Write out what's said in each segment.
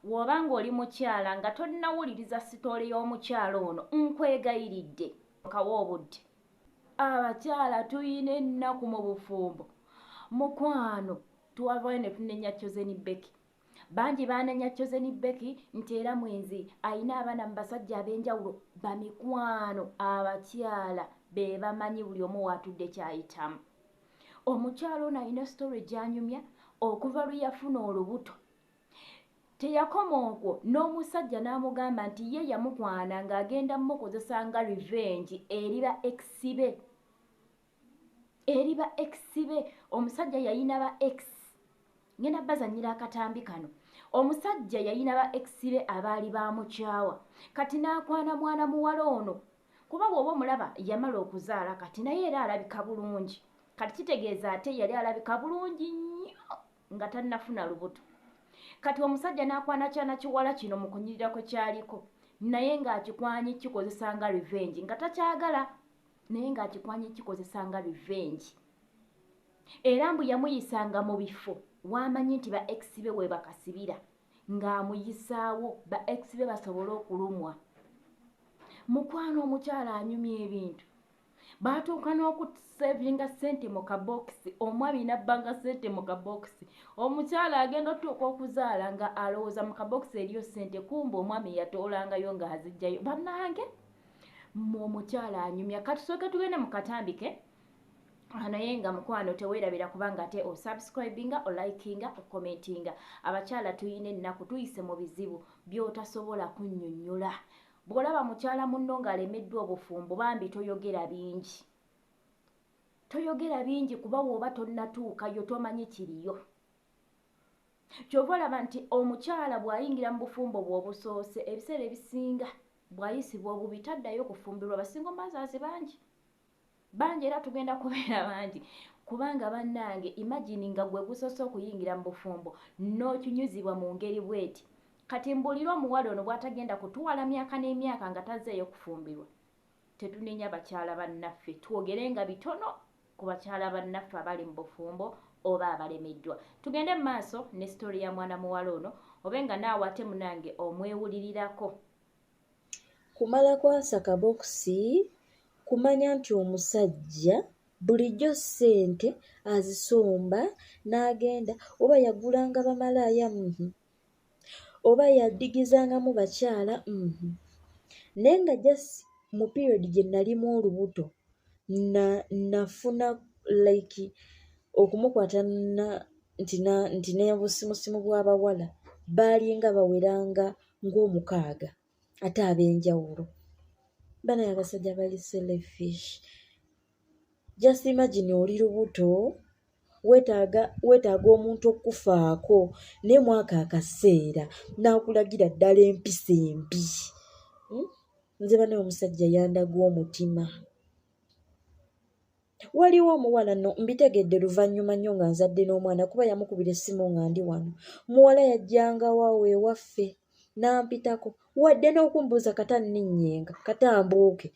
W'oba ng'oli mukyala nga tonnawuliriza sitoole y'omukyala ono, nkwegayiridde kawe obudde. Abakyala tulina ennaku mu bufumbo mukwano. Twavaayo ne tunenya Chosen Becky. Bangi baanenya Chosen Becky nti era mwenzi, alina abaana mu basajja ab'enjawulo. Bamikwano abakyala be bamanyi buli omu w'atudde ky'ayitamu. Omukyala ono alina sitoole gy'anyumya okuva lwe yafuna olubuto. Teyakoma okwo n'omusajja n'amugamba nti ye yamukwana ng'agenda mmukozesa nga revenge eri ba ex be. Eri ba ex be. Omusajja yalina ba ex. Ngenda bazannyira akatambi kano. Omusajja yalina ba ex be abaali baamukyawa. Kati n'akwana mwana muwala ono. Kuba bw'oba omulaba yamala okuzaala kati naye era alabika bulungi. Kati kitegeeza ate yali alabika bulungi nnyo. nga tannafuna lubuto kati omusajja n'akwana kyana kiwala kino mu kunyirira kwe kyaliko naye ng'akikwanyi kikozesa nga revenge nga takyagala naye ng'akikwanyi kikozesa nga revenge era mbu yamuyisanga mu bifo waamanyi nti ba ex be webakasibira ng'amuyisaawo ba ex be basobole okulumwa mukwano omukyala anyumya ebintu baatuuka n'okusavinga sente mu kabokisi omwami nabbanga sente mu kabokisi omukyala agenda otuuka okuzaala nga alowooza mu kabokisi eriyo sente kumba omwami yatoolangayo nga azijjayo banange mu omukyala anyumya katusooke tugende mu katambike Ah, naye nga mukwano tewerabira kubanga ate osubscribinga olikinga okomentinga abakyala tuyina ennaku tuyise mu bizibu byotasobola kunyonyola Bw'olaba mukyala munno ng'alemeddwa obufumbo bambi toyogera bingi. Toyogera bingi kuba w'oba tonnatuukayo tomanyi kiriyo. Ky'ova olaba nti omukyala bw'ayingira mu bufumbo bwe obusoose ebiseera ebisinga bw'ayisibwa obubi taddayo kufumbirwa ba single mothers bangi. bangi era tugenda kubeera bangi kubanga bannange imagini nga gwe gusoose okuyingira mu bufumbo n'okinyuzibwa mu ngeri bweti kati mbuulire omuwala ono bw'atagenda kutuwala myaka n'emyaka nga tazeeyo kufumbirwa tetunenya bakyala bannaffe twogere nga bitono ku bakyala bannaffe abali mu bufumbo oba abalemeddwa tugende mu maaso ne sitori ya mwana muwala ono obe nga naawe ate munange omwewulirirako Kumala kwasa kabokisi kumanya nti omusajja bulijjo ssente azisomba n'agenda oba yagulanga bamalaaya uhmm oba yadigizangamu bakyala uhmm naye nga just mu period gye nalimu olubuto na nafuna like okumukwata na nti na nti n'obusimusimu bw'abawala baalinga bawera nga ng'omukaaga ate ab'enjawulo banaye abasajja bali selfish just imagine oli lubuto wetaaga wetaaga omuntu okufaako naye mwaka akaseera n'akulagira ddala empisa embi hmm? nze banaye omusajja yandaga omutima waliwo omuwala no mbitegedde luvannyuma nnyo nga nzadde n'omwana kuba yamukubira essimu nga ndi wano muwala yajjanga wawo ewaffe n'ampitako wadde n'okumbuuza kata nninnyenga kata mbuuke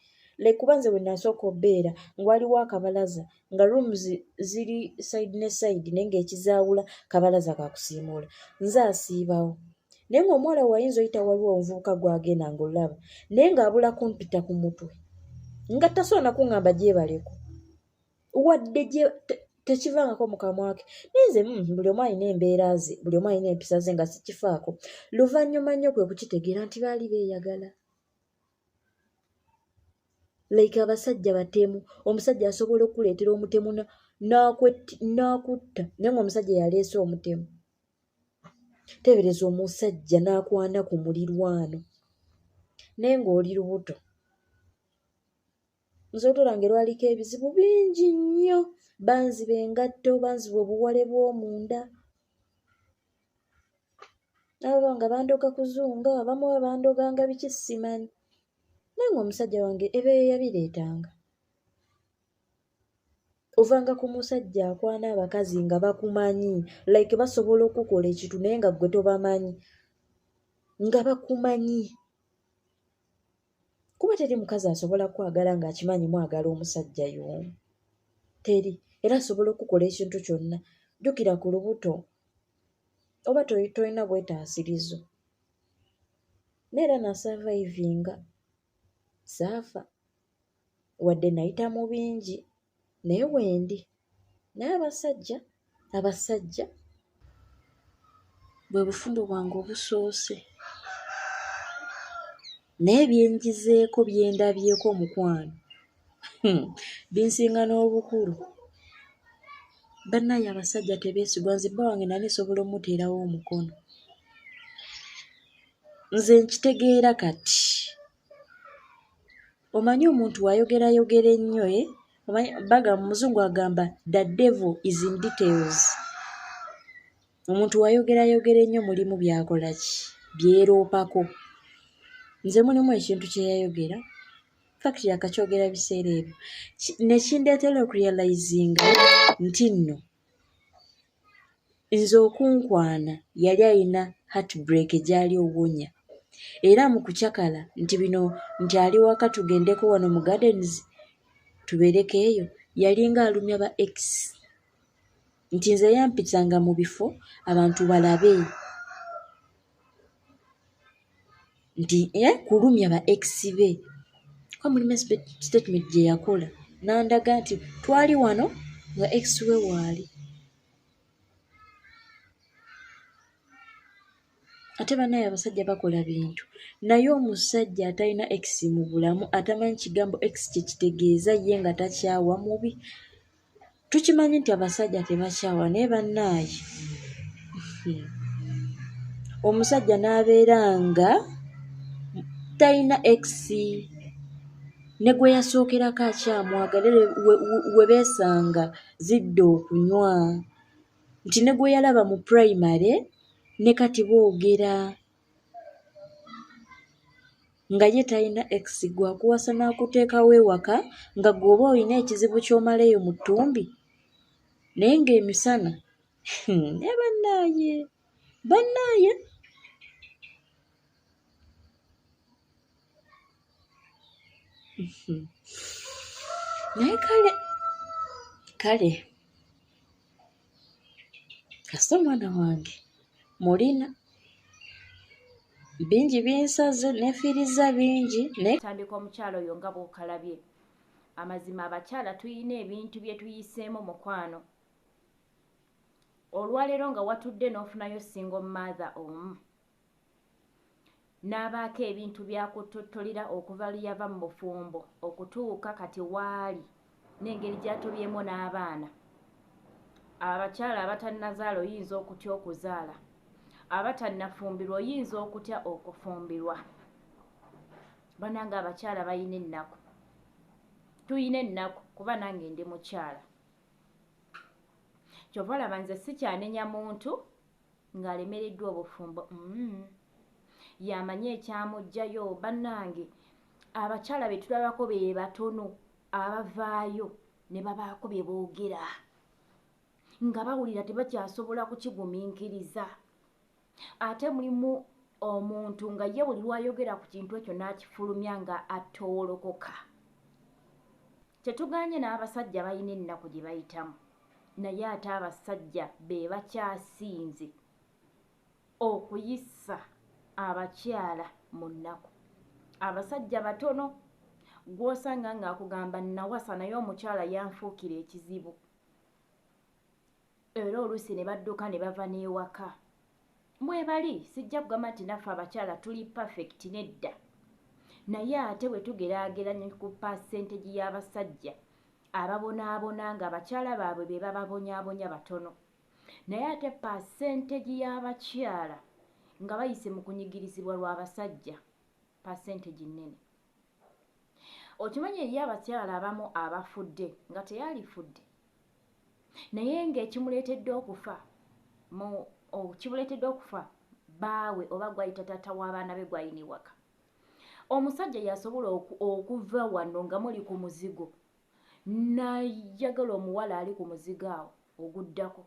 like kuba nze wenasooka obeera nga waliwo akabalaza nga rooms ziri side ne side naye ngaekizaawula kabalaza kakusiimuula nze asiibawo naye ng'omuwala wayinza oyita waliwo omuvubuka gwagenda ngaolaba naye ng'abula kumpita ku mutwe nga tasobola nakuŋŋamba gyebaleko wadde tekivangako mukamwake naye nze mm, buli omu alina embeera ze buli omu alina empisa ze nga sikifaako luvannyuma nnyo kwe kukitegeera nti baali beeyagala like abasajja batemu omusajja asobola okukuleetera omutemu n'akutta naye ngaomusajja yaleese omutemu teebereza omusajja n'akwana ku mulirwano naye ng'oli lubuto nze otola nga erwaliko ebizibu bingi nnyo banziba engatto banziba obuwale bw'omunda nabo nga bandoga kuzunga abamu babandoganga biki simanyi naye nga omusajja wange ebeeyo yabireetanga ovanga ku musajja akwana abakazi nga bakumanyi like basobola okukola ekintu naye nga gwe tobamanyi nga bakumanyi kuba teri mukazi asobola kwagala ng'akimanyi mwagala omusajja y'omu teri era asobola okukola ekintu kyonna jjukira ku lubuto oba tolina bwetaasirizo naye era nasavayivinga saafa Wadde nayita mu bingi naye wendi naye abasajja abasajja bwe bufumbo bwange obusoose naye byenjizeeko byendabyeko omukwano hmm, binsinga n'obukulu bannaaye abasajja tebeesigwa nze bba wange nali nsobola omuteerawo omukono nze nkitegeera kati omanyi omuntu wayogerayogera ennyo e omanyi baga muzungu agamba the devil is in details omuntu wayogerayogera ennyo mulimu byakola ki byeroopako nze mulimu ekintu kyeyayogera fact yakakyogera biseera ebyo nekindeetera okurealizinga nti nno nze okunkwana yali alina heartbreak gyali owonya era mu kucakala nti bino nti ali waka tugendeko wano mu gardens tubeereko eyo yalinga alumya ba ex nti nze yampitanga mu bifo abantu balabe nti eh, kulumya ba ex be kuba mulimu statement gye yakola n'andaga nti twali wano nga ex we waali ate banaye abasajja bakola bintu naye omusajja atalina ex mu bulamu atamanyi kigambo ex kyekitegeeza ye nga takyawa mubi tukimanyi nti abasajja tebakyawa naye bannaayi omusajja n'abeera nga talina ekisi ne gwe yasookerako akyamwagala we beesanga zidda okunywa nti ne gwe yalaba mu primary ne kati boogera nga ye talina ex gwe akuwasa n'akuteekawo ewaka nga gwe oba olina ekizibu ky'omala eyo mu ttumbi naye ng'emisana hmm, naye bannaaye bannaaye naye kale kale kasita omwana wange mulina bingi binsaze nefiiriza bingi tandika omukyalo oyo nga bwokalabye amazima abakyala tulina ebintu bye tuyiseemu mukwano olwaleero nga watudde n'ofunayo single mother omu n'abaako ebintu by'akuttottolera okuva lwe yava mu bufumbo okutuuka kati w'ali n'engeri gy'atobyemu n'abaana. Abakyala abatannazaala oyinza okutya okuzaala? Abatannafumbirwa oyinza okutya okufumbirwa? Bannange abakyala balina ennaku. Tulina ennaku kuba nange ndi mukyala. Kyova olaba nze sikyanenya muntu ng'alemereddwa obufumbo mm. yamanyi ekyamujjayo bannange abakyala be tulabako be batono abavaayo ne babaako bye boogera nga bawulira tebakyasobola kukigumiikiriza ate mulimu omuntu nga ye buli lwayogera ku kintu ekyo n'akifulumya nga atowolokoka Tetuganye n'abasajja balina ennaku gye bayitamu naye ate abasajja be bakyasinze okuyisa abakyala mu nnaku. Abasajja batono gw'osanga ng'akugamba nnawasa naye omukyala yanfuukira ekizibu. era oluusi ne badduka ne bava n'ewaka mwebali sijja kugamba nti naffe abakyala tuli perfect nedda naye ate bwe tugeraageranya ku pasentegi y'abasajja ababonaabona nga abakyala baabwe be bababonyabonya batono naye ate pasentegi y'abakyala nga bayise mu kunyigirizibwa lw'abasajja pasentegi nnene okimanyi eriyo abakyala abamu abafudde nga teyalifudde naye ng'ekimuleetedde okufa mu kimuleetedde okufa baawe oba gwayita taata w'abaana be gwayina ewaka omusajja yasobola okuva wano nga muli ku muzigo nayagala omuwala ali ku muzigo awo oguddako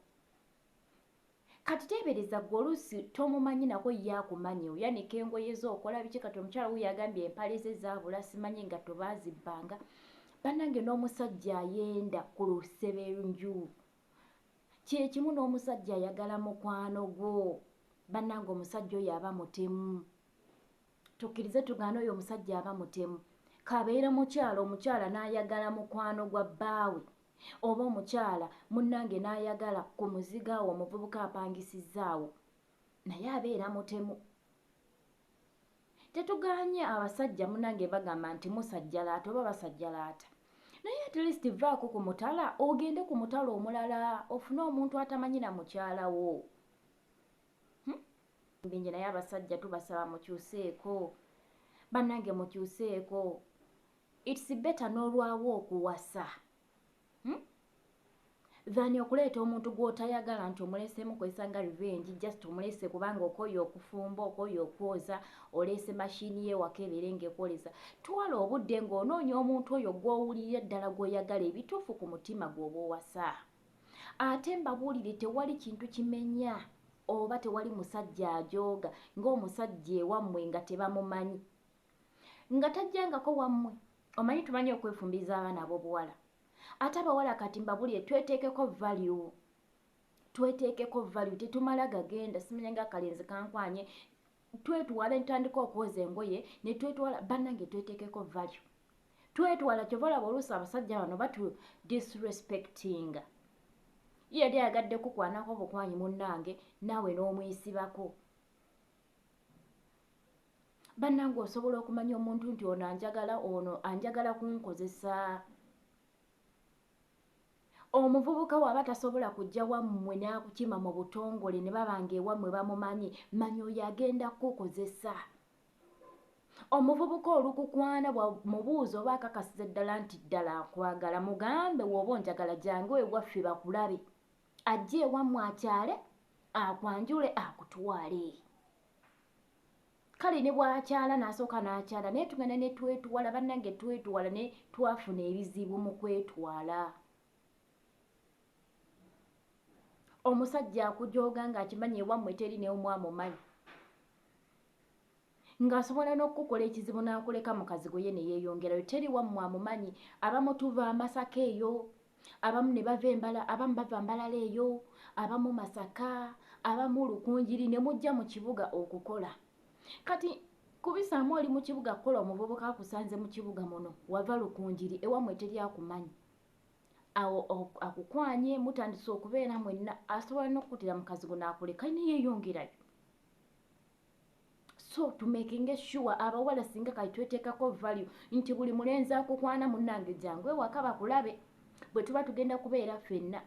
Kati tebereza gwe oluusi tomumanyi nako ye akumanyi oyanika engoye zo okola biki kati omukyala wuyo agambye empale ze zabula simanyi engatto bazibbanga banange nomusajja ayenda ku lusebenju kyekimu nomusajja ayagala mukwano gwo banange omusajja oyo aba mutemu Tukkirize tugaane oyo omusajja aba mutemu. K'abeere mukyala, omukyala n'ayagala mukwano gwa bbaawe oba omukyala munnange n'ayagala ku muzigo awo omuvubuka apangisizza awo naye abeera mutemu. Tetugaanye abasajja munnange bagamba nti musajjalaata oba basajjalaata. Naye at least vaako ku mutala ogende ku mutala omulala ofune omuntu atamanyi na mukyala wo. bingi naye abasajja tubasaba mukyuseeko banange mukyuseeko its better n'olwawo okuwasa hmm? than okuleeta omuntu gw'otayagala nti omuleeseemu kwesanga revenge just omuleese kubanga okoye okufumba okoye okwoza oleese mashini ye waka ebeere ng'ekwoleza twala obudde ng'onoonya omuntu oyo gw'owulirira ddala gw'oyagala ebituufu ku mutima gw'oba owasa ate mbabuulire tewali kintu kimenya oba tewali musajja ajooga ng'omusajja ewammwe nga tebamumanyi nga tajjangako wammwe omanyi tumanyi okwefumbiriza abaana ab'obuwala ate abawala kati mbabuulire tweteekeko value tweteekeko value tetumala gagenda simanya nga akalenzi kankwanye twetwala entandika okwoza engoye netwetwala banange twetekeko value twetwala kyova olaba oluusi abasajja bano batu disrespectinga ye yali ayagadde kukwanako obukwanyi munange naawe n'omuyisibako banange osobola okumanya omuntu nti ono anjagala ono anjagala kunkozesa Omuvubuka waba tasobola kujja wammwe n'akukima mu butongole ne baba ng'ewammwe bamumanyi, manya oyo agenda kukukozesa. Omuvubuka olukukwana bw'amubuuza oba akakasiza ddala nti ddala akwagala, mugambe w'oba onjagala jangu ewaffe bakulabe. Ajje ewammwe akyale, akwanjule akutwale. kale ne bwakyala nasooka n'akyala naye tugenda ne twetuwala bannange twetuwala ne twafuna ebizibu mu kwetwala omusajja akujooga ng'akimanyi ewammwe teri neomu amumanyi ng'asobola n'okukukola ekizibu n'akuleka mukazi gwe ye ne yeeyongerayo teri wammwe amumanyi abamutuva amasaka eyo abamu ne bava embala abamu bava mbalala eyo abamu masaka abamu lukunjiri ne mujja mu kibuga okukola kati kubisaamu oli mu kibuga kukola omuvubuka akusanze mu kibuga muno wava lukunjiri ewammwe teri akumanyi awo akukwanye mutandise okubeera mwenna asobola n'okukutira mukazi gwo n'akuleka naye yeyongerayo so to making sure abawala singa kati tweteekako value nti buli mulenzi akukwana munnange jangu ewaka bakulabe bwe tuba tugenda kubeera ffenna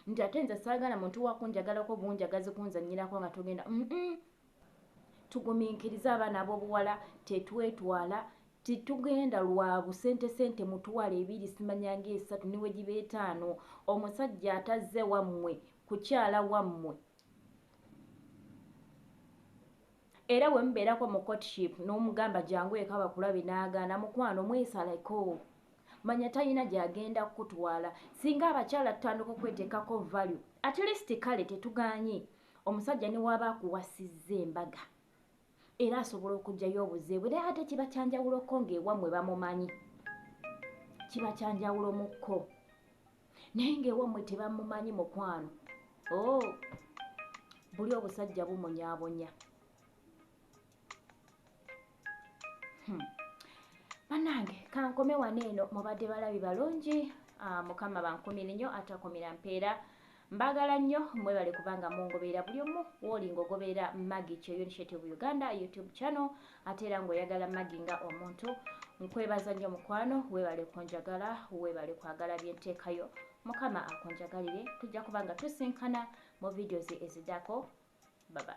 nti ate nze saagala muntu wakunjagalako bunjagazi kunzanyirako nga togenda tugumiikiriza abaana ab'obuwala tetwetwala titugenda lwa busente sente mutwala ebiri simanyanga esatu niwe giba etaano omusajja atazze wammwe kukyala wammwe era bwe mubeerako mu courtship n'omugamba jangu eka bakulabe n'agaana mukwano mwesaleko manya talina gy'agenda kukutwala singa abakyala tutandika okweteekako value at least kale tetugaanye omusajja ne waaba akuwasizza embaga era asobola okujjayo obuze bwe naye ate kiba kyanjawulo ko ng'ewammwe bamumanyi kiba kyanjawulo mu kko naye ng'ewammwe tebamumanyi mukwano o oh, buli obusajja bumunyabonya hmm. banange kankome wano eno mubadde balabi balungi ah, mukama bankumire nnyo atakumira mpeera Mbagala nnyo mwebale kubanga mungoberera buli omu woli ngogoberera Maggie Kyoyo Initiative Uganda YouTube channel ate era ngoyagala Maggie nga omuntu nkwebaza nnyo mukwano webale kunjagala webale kwagala byenteekayo mukama akunjagalire tujja kubanga tusinkana mu videos ezidako baba